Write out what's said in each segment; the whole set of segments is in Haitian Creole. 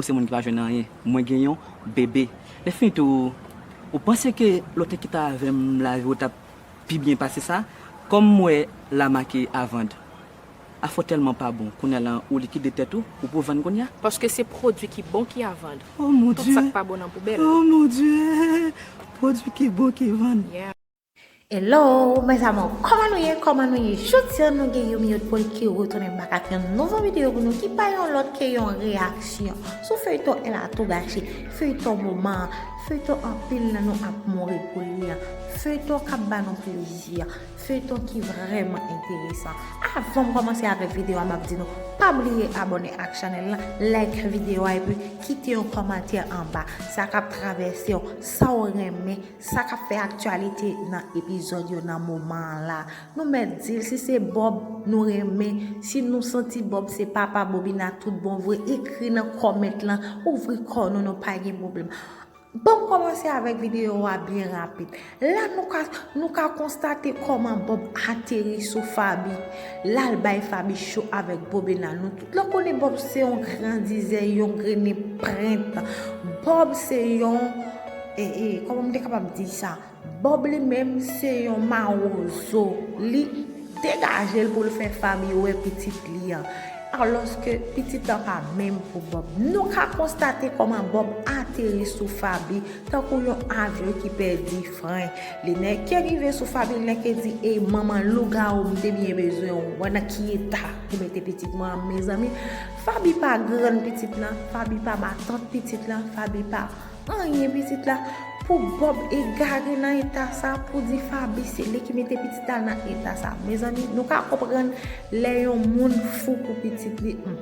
Ou se moun ki pa jwenn anyen. Mwen gen yon bebe. Lèfini tou, ou panse ke lè w te kite avè m lavi w t ap pi byen pase sa? Kòm m wè la make a vand. Afè w tèlman pa bon kounye a la ou likide tèt ou, ou pou vann kounye a? Paske se pwodui ki bon ki a vand. Tout sa k pa bon nan poubèl. O mon Dye! Pwodui ki bon ki vann. Hello mes amours koman nou ye koman nou ye jodi an nou gen Yomi Otpol ki retounen bak ak yon nouvo video pou nou ki pa yon lòt ke yon reyaksyon sou feyton elle a tout gâché feyton moman an feyton anpil nan nou ap mouri pou li an feyton kap ba nou plezi an feyton ki vrèman enteresan avanm kòmanse avèk video a map di nou pa bliye abòne ak chanèl la like video a epi kite yon kòmantè anba sa kap travèsew sa ou renmen Sa kap fè aktyalite nan epizòd yo nan moman an la, nou mèt di l si se Bob nou renmen, si nou santi Bob se papa Bobina tout bon vre ekri nan comment lan, ouvri kò nou nou pa gen pwoblèm. Banm kòmanse avèk videyo a byen rapid. La nou ka nou ka konstate kòman Bob ateri sou Faby, lal bay Faby cho avèk Bobina. Nou tout la konnen Bob se yon grandizè, yon grennen prent. Bob se yon. Ee kòman m te kapab di sa? Bob li menm se yon mawozo. Li degaje l pou l fè Fabie wè pitit li an. Alòske pitit lan pa menm pou Bob. Nou ka konstate kòman Bob ateri sou Fabie tankou yon avyon ki pèdi fren. Li nèke rive sou Fabie, li nèke di, Ey manman lougawou m te byen bezwen w. Wè nan ki eta ou mete pitit mwen an mezanmi. Fabie pa grann pitit lan, Fabie pa matant pitit lan, Fabie pa. Anyen pitit la pou Bob egare nan eta sa pou di Faby se li ki mete pitit la nan eta sa mezanmi nou ka konprann lè yon moun fou pou pitit li humm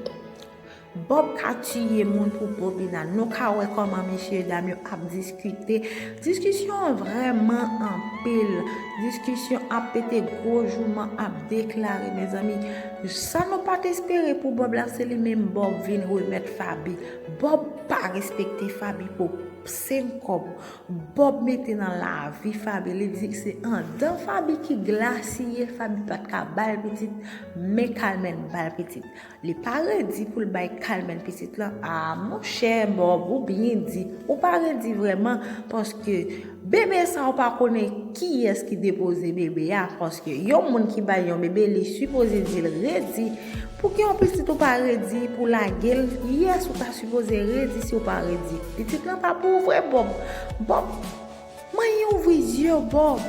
Bob ka tiye moun pou Bobina nou ka wè kòman mesye dam yo ap diskite diskisyon an vrèman anpil diskisyon ap pete gwo jouman ap deklare mezanmi sa nou pat espere pou Bob la se li menm Bob vin remèt Faby. Bob pa respekte faby pou seng kob bob mete nan lavi faby li di se andan faby ki glasiye faby pat ka bal pitit men kalmèn bal pitit li pa redi poul bay kalmèn pitit lan aa monchè bob ou byen di ou pa redi vrèman paske Bebe sa ou pa konnen kiyès ki depoze bebe a paske yon moun ki bay yon bebe li sipoze dil redi pouki yon pitit ou pa redi pou lagel yes ou ta sipoze redi si ou pa redi pitit lan pa pou ou vre bob bob manyen ouvri zyew bob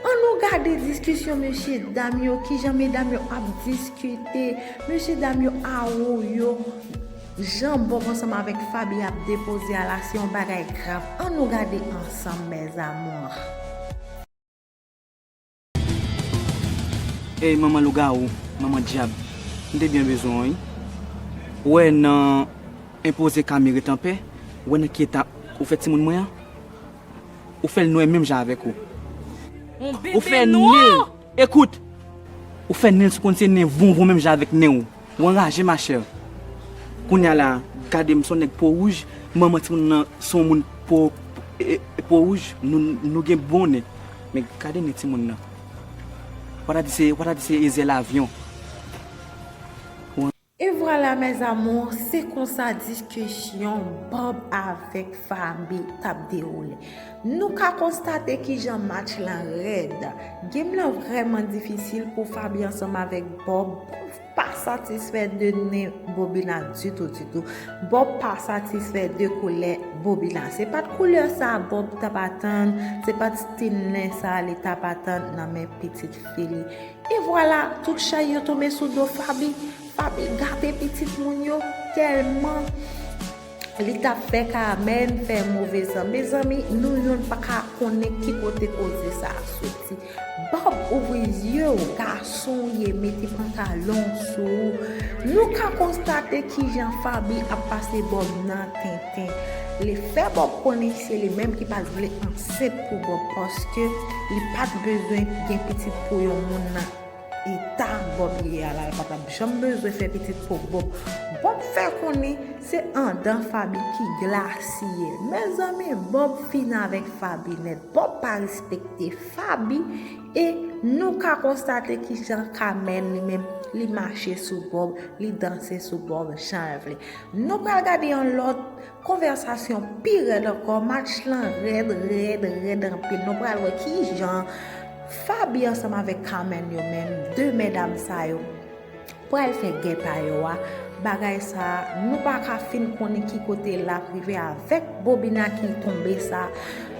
an nou gade diskisyon mesye dam yo kijan medam yo ap diskite mesye dam yo awoyo. Jan Bob ansanm avèk Faby ap depoze a la se yon bagay grav an nou gade ansanm mes amours. Ey manman lougawou manman dyab m te byen bezwen w wi ou wè nan enpoze Cami ret anpè ou wè nan ki eta ou fè timoun mwen an ou fèl nwè menm jan avèk ou ou fè nenl ekout ou fè nenl sou konn se nen vonvon menm jan avèk nenw. Ou anraje ma chère. Kounya la gade m son nèg po wouj manman timoun nan son moun po po wouj nou gen bon nen men gade nen timoun nan wa ta di se wa ta di se e zèl avyon. Et voilà mes amours se konsa diskisyon Bob avèk Fabie tap dewoule. Nou ka konstate kijan match la rèd. Game lan vrèman difisil pou Faby ansanm avèk Bob. Bob pa satisfè de nen Bobina ditou ditou. Bob pa satisfè de koulè Bobina. Se pat koulè sa Bob tap atann, se pat stil nen sa li tap atann nan men pitit fi li. E vwala, tout chay yo tonbe sou do Faby. Faby gate pitit moun yo tèlman. Li tap fè Carmène fè move zan. Mezanmi nou youn paka konnen ki kote koze sa a soti. Bob ouvri zye w gason w ye mete pantalon w sou ou. Nou ka konstate kijan Faby ap pase Bob nan tenten. Li fè Bob konnen se li menm ki pat vle ansent pou Bob paske li pat bezwen gen pitit pou yon moun nan. Eta bob ye ya la patap janm bezwen fè pitit pou bob bob fè konnen se andan faby ki glasiye mezanmi bob fini avèk faby nèt bob pa respekte faby e nou ka konstate kijan kamèl li menm li mache sou bob li danse sou bob janl vle nou pral gade yon lòt Konvèsasyon pi rèd ankò match lan rèd rèd rèd anpil nou pral wè kijan Faby ansanm avèk Carmène yo menm 2 mèdam sa yo pral fè gè pa yo a bagay sa nou paka fin konnen ki kote lap rive avèk bobina ki tonbe sa.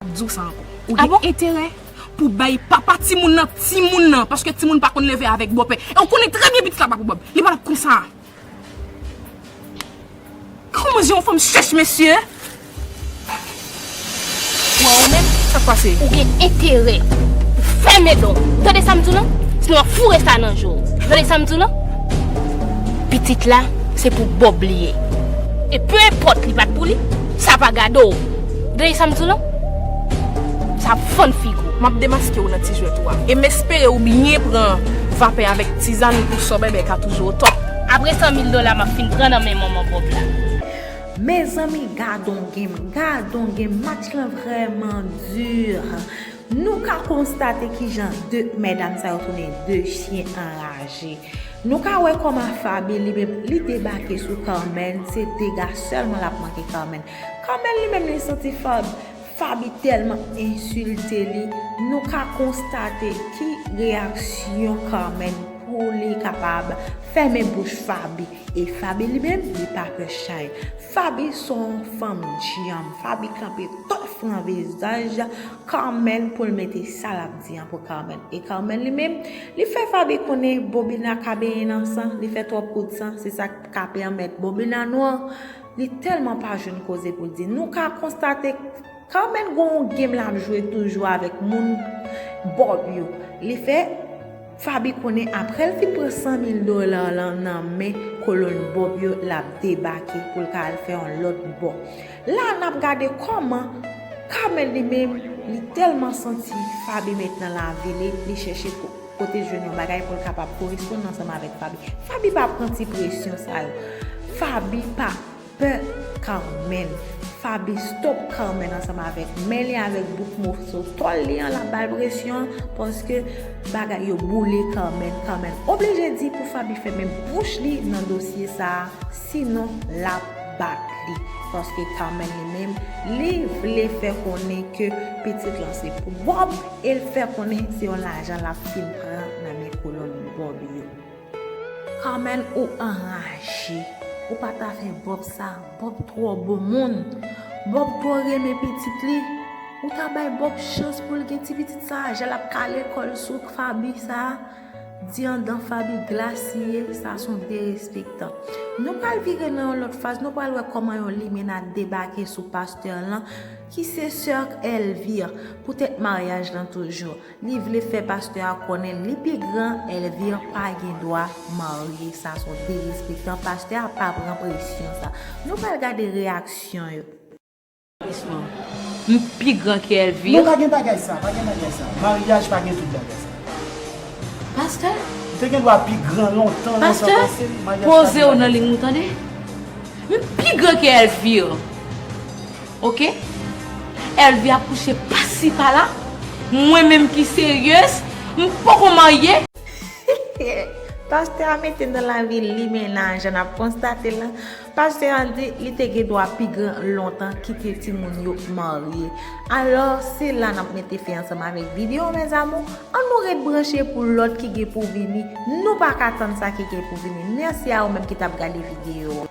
Map diw sa ankò. Ou gen enterè pou bay papa timoun nan timoun nan paske timoun pa konn leve avèk bòpè. E ou konnen trè byen pitit la pa pou bòpè. Li pa tap konsa. Kòman je yon fanm chèch mesye. Bon ou menm sak pase. Ou gen enterè pou fèmen danw. Ou tande sam diw lan. Sinon wap foure sa nan jew. Ou tande sam diw lan. Pitit la se pou bòb li ye. E peu enpòt li pat pou li. Sa pa gadew. Gade sa m di w la. Sa ap fann figi w. M ap demaske w nan ti jwèt ou a. E m espere ou byen pran vapè avèk tizann ou pou sò bèbè ka toujou otòp. Apre san mil dola m ap fin pran nan men manman Bob la. Mezanmi gadon game gadon game match lan vrèman dur nou ka konstate kijan 2 medam sa yo tounen 2 chyen anraje nou ka wè kòman Faby li menm li debake sou Carmène se dega sèlman lap manke Carmène. Carmel li menm li santi Fab. Faby tèlman ensilte li, nou ka konstate ki reyaksyon Carmel pou li kapab fèmen bouch Faby. E Faby li menm li pa pè chay. Faby son fanm dyanm. Faby kanpe tòf nan vizaj Carmel pou l mete sa l ap di an pou Carmel. E Carmel li menm, li fè Faby konnen Bobina kabeyen nan san, li fè twòp kout san, se sa k ka pèmèt Bobina nwa. Li tèlman pa jwenn koze pou l di. Nou ka konstate Carmène gen yon game l ap jwe toujou avèk moun Bob yo. Li fè Faby konnen aprè l fin pran 100 mil dola lan nan men kolonn Bob yo l ap debake pou l ka al fè yon lòt bò. La a n ap gade kòman Carmène li menm li tèlman santi Faby met nan lavi li, li chèche pou. Pote jwenn yon bagay pou l kapab koresponn ansanm avèk Faby. Faby pa pran ti presyon sa yo. Faby pa pè Carmen. Faby stop Carmen ansanm avèk men li avèk bout moso tòl li an l ap ba l presyon paske bagay yo boule Carmen. Carmen oblije di pou Faby fèmen bouch li nan dosye sa a sinon l ap bat li paske Carmen li menm li vle fè konnen ke pitit lan se pou Bob. E l fè konnen se yon lajan l ap fin pran nan men kolon Bob yo. Carmène ou anraje. Ou pa ta fè Bob sa. Bob twò bon moun. Bob twò renmen pitit li. Ou ta bay Bob chans pou l gen ti pitit sa a. Jan l ap kale kò l sou Faby sa a. Di andan Faby glas li ye. Sa s on derespektan. Nou pral vire nan yon lòt faz. Nou pral wè kòman yon limenna debake sou pastè lan. Ki se soeur Elvire pou tèt maryaj lan toujou li vle fè pastè a konnen li pi gran Elvire pa gen dwa marye sa son derespektan pastè a pa pran presyon sa nou pral gade reyaksyon yo. M pi gran ke Elvire. Non pa gen bagay sa pa gen bagay sa maryaj pa gen tout bagay sa pastè. M te gen dwa pi gran lontan nan sa pase maryaj pa gen bagay sa. Pastè pozew nan ligne ou tande m pi gran ke Elvire. Ok Elvie ap kouche pasi pala mwen menm ki serieuse m poko marye. Pastè a mete nan lavi limenna jan nap konstate la pastè a di li te gen dwa pi gran lontan kite timoun yo marye alò se la nap mete fen ansanm avèk video mes amours an nou ret branche pou lòt ki gen pou vini nou paka tann sa ki gen pou vini mèsi a ou menm ki tap gade video.